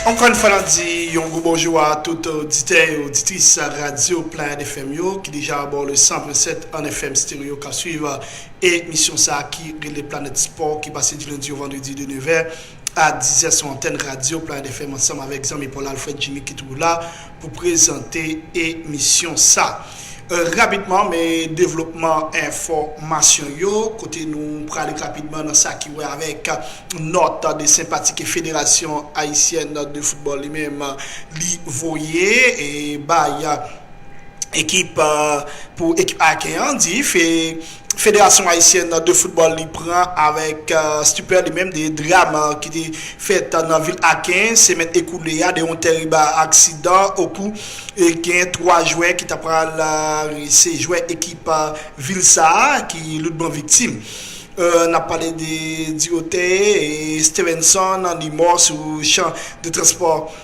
Ankò yon fwa n ap di yon gwo bonjou a tout oditè e oditris radyo Pleiade FM yo ki deja abò le 100.7 an FM stereo k ap swiv emisyon sa a ki rele Planèt Spò ki pase di lendi o vandredi de nevè a dizè sou antèn radyo Pleiade FM ansanm avèk zanmi pa w la Alfred Djimi ki toujou la pou prezante emisyon sa. Rapidman men devlopman enfòmasyon yo, kote nou prale rapidman nan sa ki wè avèk nòt de senpatike Federasyon Ayisyèn de Foutbòl li menm li voye bay ekip pou ekip Aken an di Federasyon Ayisyèn de Foutbòl li pran avèk stipè li menm 2 dram ki te fèt nan vil Aken semèn ekoule a de yon tèrib aksidan okou gen 3 jwè ki ta pral se jwè ekip vil sa a ki loutman viktim n ap pale de Dioteye Stevenson li mò sou chan de transpò.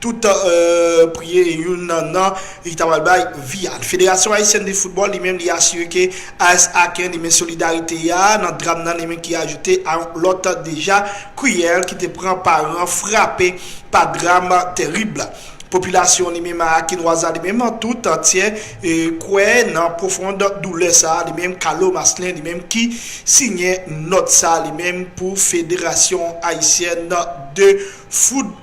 Tout priye youn nan li ta pral bay vi a. Federasyon Ayisyèn de Foutbòl li menm li asire ke AS Aken li men solidarite a nan dram nan li menm ki ajoute a yon lòt deja kriyèl ki te pran paran frape pa dram terib la. Popilasyon li menm Akenwaz la li menm tout antyè kwè nan pwofond doulè sa li menm Kalo Maslin li menm ki siyen nòt sa li menm pou Federasyon Ayisyèn de Foutbòl.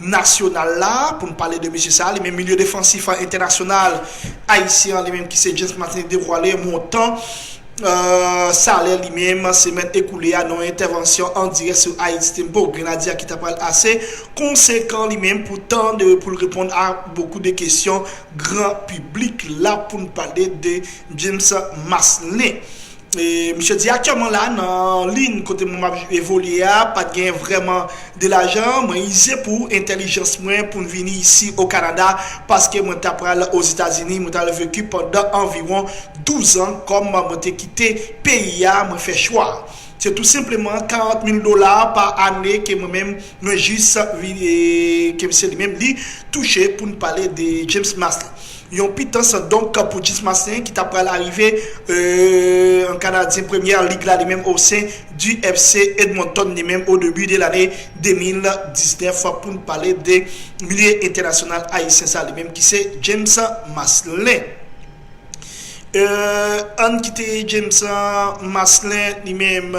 nasyonal la, pou n pale de mesye sa a, li menm milye defansif an entènasyonal ayisyen an li menm ki se James Martinez devwale montan salè li menm semèn ekoule a nan yon entèvansyon an dirèk sou Haiti Tempo, Grenadye a ki ta pral ase konsekan li menm pou tan de pou l reponn a bokou de kesyon gran piblik la pou n pale de James Maslen. Misye di aktyèman la nan lin kote mwen map evolye a pat gen vrèman de lajan, mwen ize pou entèlijans mwen poun vini isi o Kanada paske mwen ta pral o Zetazini mwen tal veku pandan anviwon 12 an kòm mwen te kite peyi a mwen fè chwa se tou senpleman 40 mil dola pa ane ke mwen menm mwen jis vini ke se li menm li touche poun pale de James Masley. Yon pitans donk pou Jis Maslen ki ta pral arive en Kanadyen Premyè Lig la li menm osen di FC Edmonton li menm o debi de lane 2019 pou n pale de milye entènasyonal Ayisyen sa li menm ki se James Maslen. An n kite James Maslen li menm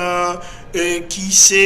ki se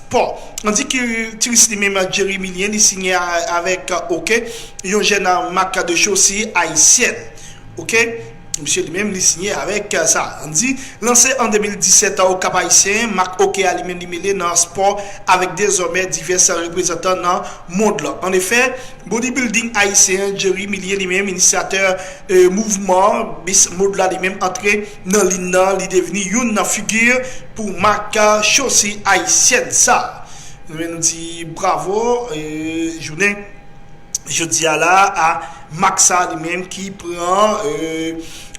Paul. An di ki tris li menm Jerry Millien li signe avek ok yon jèn mak de chosi ayisyèn ok misye li menm li signe avek sa an di lanse an 2017 o kap ayisyen mak ok a li menm li mele nan spò avek dezòmè divès reprezantan nan mond lan an efè body building ayisyen Jerry Millien li menm inisyatè mouvman miss mode la li menm antre Nan lin nan li devni youn nan figi pou mak chosi ayisyèn sa. Renmen nou di bravo jounen jodi a la a mak sa li menm ki pran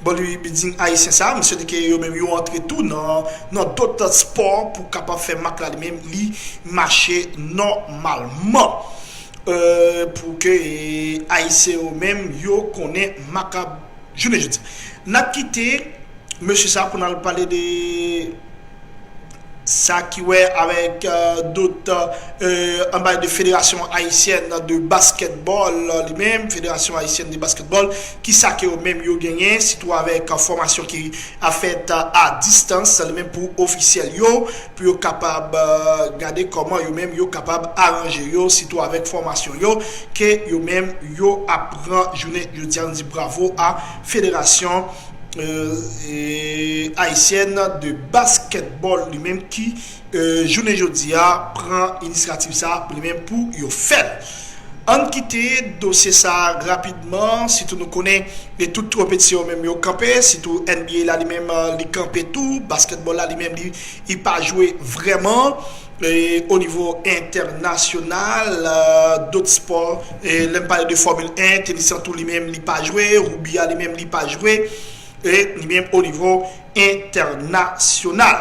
bodybuilding ayisyen sa. Mwen swete ke yo menm yo antre tou nan dot spò pou kapab fè mak la li menm li mache nòmalman. Pou ke ayisyen yo menm yo konnen mak ap. Jounen jodi a. N ap kite mesye sa pou n al pale de sa ki wè avèk dot an pale de federasyon ayisyèn de baskètbòl li menm, federasyon ayisyèn de baskètbòl, ki sa ke yo menm yo genyen sitou avèk fòmasyon ki ap fèt a distans li menm pou ofisyèl yo. pou yo kapab gade kòman yo menm yo kapab aranje yo, sitou avèk fòmasyon yo ke yo menm yo ap pran jounen jodi a. Nou di bravo a Federasyon Ayisyèn de Baskètbòl li menm ki jounen jodi a pran inisyativ sa a pou li menm pou yo fè l. Ann kite dosye sa rapidman sitou nou konnen e tout tropit se yo menm yo kanpe sitou NBA la li menm li kanpe tou basketball la li menm li li pa jwe vrèman o nivo entènasyonal dot spò lèm pale de fòmil 1 tenis lan tou li menm li pa jwe roubi a li menm li pa jwe li menm o nivo entènasyonal.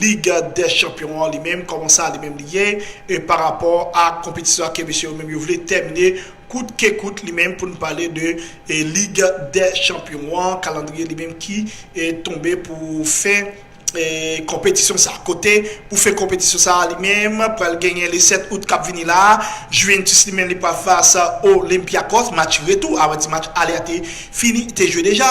Ligue des champions an li menm kòman sa li menm li ye e pa rapò a konpetisyon a ke mesye yo menm yo vle tèmine kout ke kout li menm pou n pale de Ligue des champions an kalandriye li menm ki tonbe pou fen konpetisyon sa kote pou fen konpetisyon sa li menm pral genyen le 7 out kap vini la a Juventus li menm li pral fas Olympiakos match retou a wè ti match ale a te fini te jwe deja.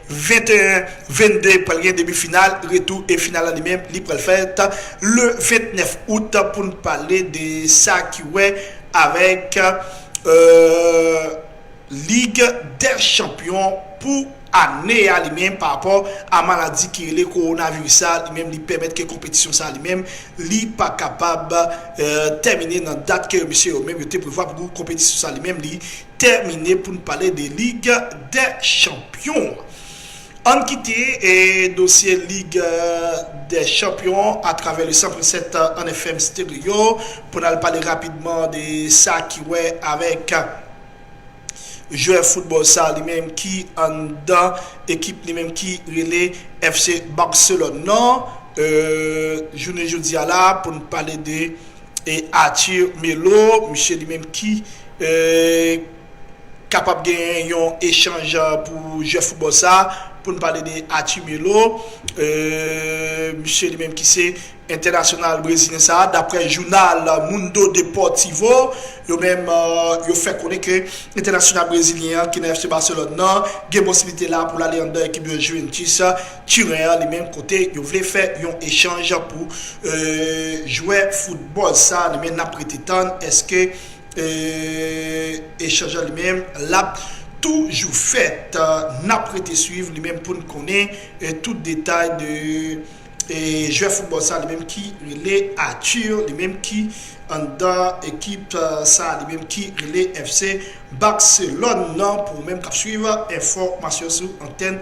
21, 22 pral gen demi final, retou e final la li menm li pral fèt le 29 out pou n pale de sa ki wè avèk lig dè chanpyon pou ane a li menm pa rapò a maladi ki rele kowonaviris sa li menm li pèmèt ke konpetisyon sa li menm li pa kapab tèmine nan dat ke mesye yo menm yo te prevwa pou konpetisyon sa li menm li tèmine pou n pale de Lig dè chanpyon an. An n kite dosye Lig dè chanpyon an atravè le 100.7 1 FM Stereo pou n al pale rapidman de sa ki wè avèk jwè foutbòl sa li menm ki anndan ekip li menm ki rele FC Barcelone nan jounen jodi a la pou n pale de e Arthur Melo misye li menm ki kapab genyen yon echanj pou jwè foutbòl sa pou n pale de Arthur Melo misye li menm ki se entènasyonal brezilyen sa daprè jounal Mundo Deportivo yo menm yo fè konnen ke entènasyonal brezilyen an ki nan FC Barcelone nan gen posiblite la pou l ale anndan ekip Juventus Turen an li menm kote yo vle fè yon echanj pou jwè foutbòl sa li menm nap rete tann eske echanj an li menm lap toujou fèt nap rete swiv li menm poun konnen tout detay de jwè foutbòl sa li menm ki rele Arthur li menm ki anndan ekip sa li menm ki rele FC Barcelone nan pou ou menm kap swiv enfòmasyon sou antèn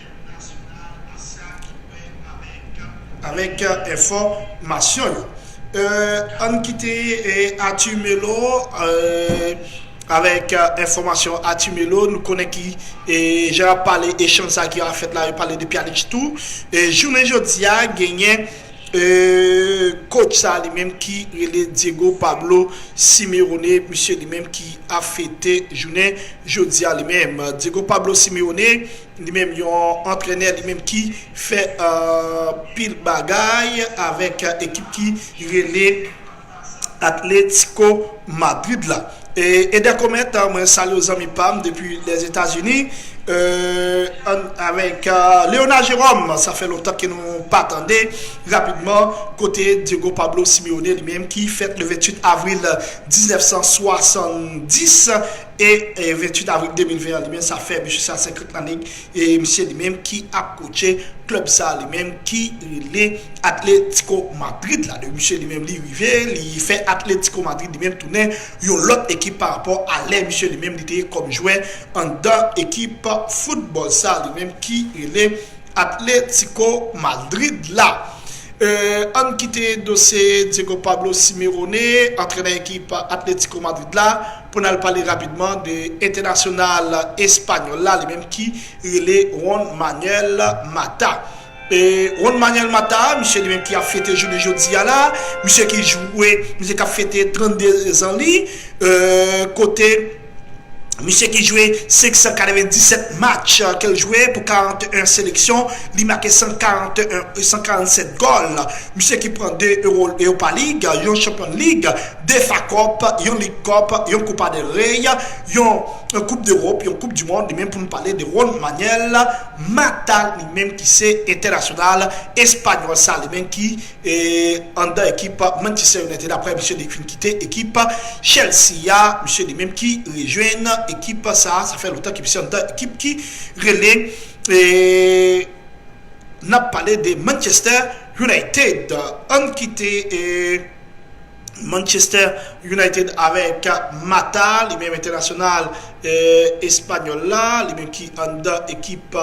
Avèk enfò masyon yo. Ann kite Athur Melo avèk enfò masyon Athur Melo nou konnen ki jan yap pale echanj sa ki a fèt la yo pale de Pjanic tou e jounen jodi a genyen kotch sa li menm ki rele Diego Pablo Simeone misye li menm ki ap fete jounen jodi a li menm Diego Pablo Simeone Li menm yon antrenè li menm ki fè anpil bagay avèk ekip ki rele Atlético Madrid la. Eder Comet mwen salyew zanmi pam depi les Etats Unis avèk Léonard Jérôme sa fè lontan ke nou pa tande rapidman kote Diego Pablo Simeone li menm ki fèt le 28 avril 1970. E 28 avril 2020 an li menm sa fè mesye sa 50 lanne e misye li menm ki ap kotche klèb sa li menm ki rele Atlético Madrid la. Depi misye li menm li rive li fè Atlético Madrid li menm tounen yon lòt ekip pa rapò a lè misye li menm li te ye kòm jwè anndan ekip foutbòl sa li menm ki rele Atlético Madrid la. E ann kite dosye Diego Pablo Simerone antrenè ekip Atlético Madrid la. Pou n al pale rapidman de entènasyonal espanyòl la, li menm ki rele Juan Manuel Mata. Juan Manuel Mata, misye li menm ki ap fete jounen jodi a la, misye ki jwe, misye k ap fete 32 zan li, kote misye ki jwe 597 match ke l jwe pou 41 seleksyon, li make 147 gòl, misye ki pran 2 Europa League, yon Champions League. 2 fa kòp, yon lig kòp, yon kopa del rey, yon koup dewop, yon koup di mond li menm pou nou pale de Ron Manuel Mata li menm ki se entènasyonal espanyòl sa li menm ki anndan ekip Manchester United aprè misye li fin kite ekip Chelsea a misye li menm ki rejwenn ekip sa sa fè lontan ke misye anndan ekip ki rele nap pale de Manchester United ann kite. Manchester United avèk Mata, li menm entènasyonal espanyòl la, li menm ki anndan ekip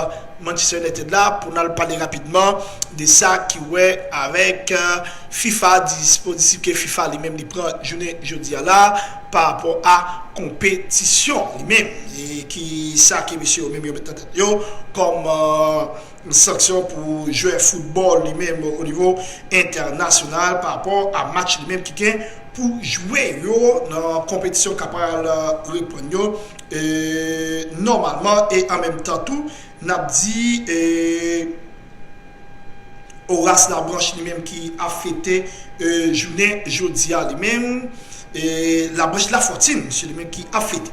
Manchester United la pou n al pale rapidman de sa ki wè avèk fifa, dispozitif ke fifa li menm li pran jounen jodi a la pa rapò a konpetisyon li menm e ki sa ke mesye yo menm yo mèt nan tèt yo kòm. Sanksyon pou jwè foutbòl li menm o nivo entènasyonal pa rapò a match li menm ki gen pou jwe yo nan konpetisyon k ap pral reprann yo nòmalman e an menm tan tou n ap di Horace Labranche li menm ki ap fete jounen jodi a li menm Labranche Lafortune mesye li menm ki ap fete.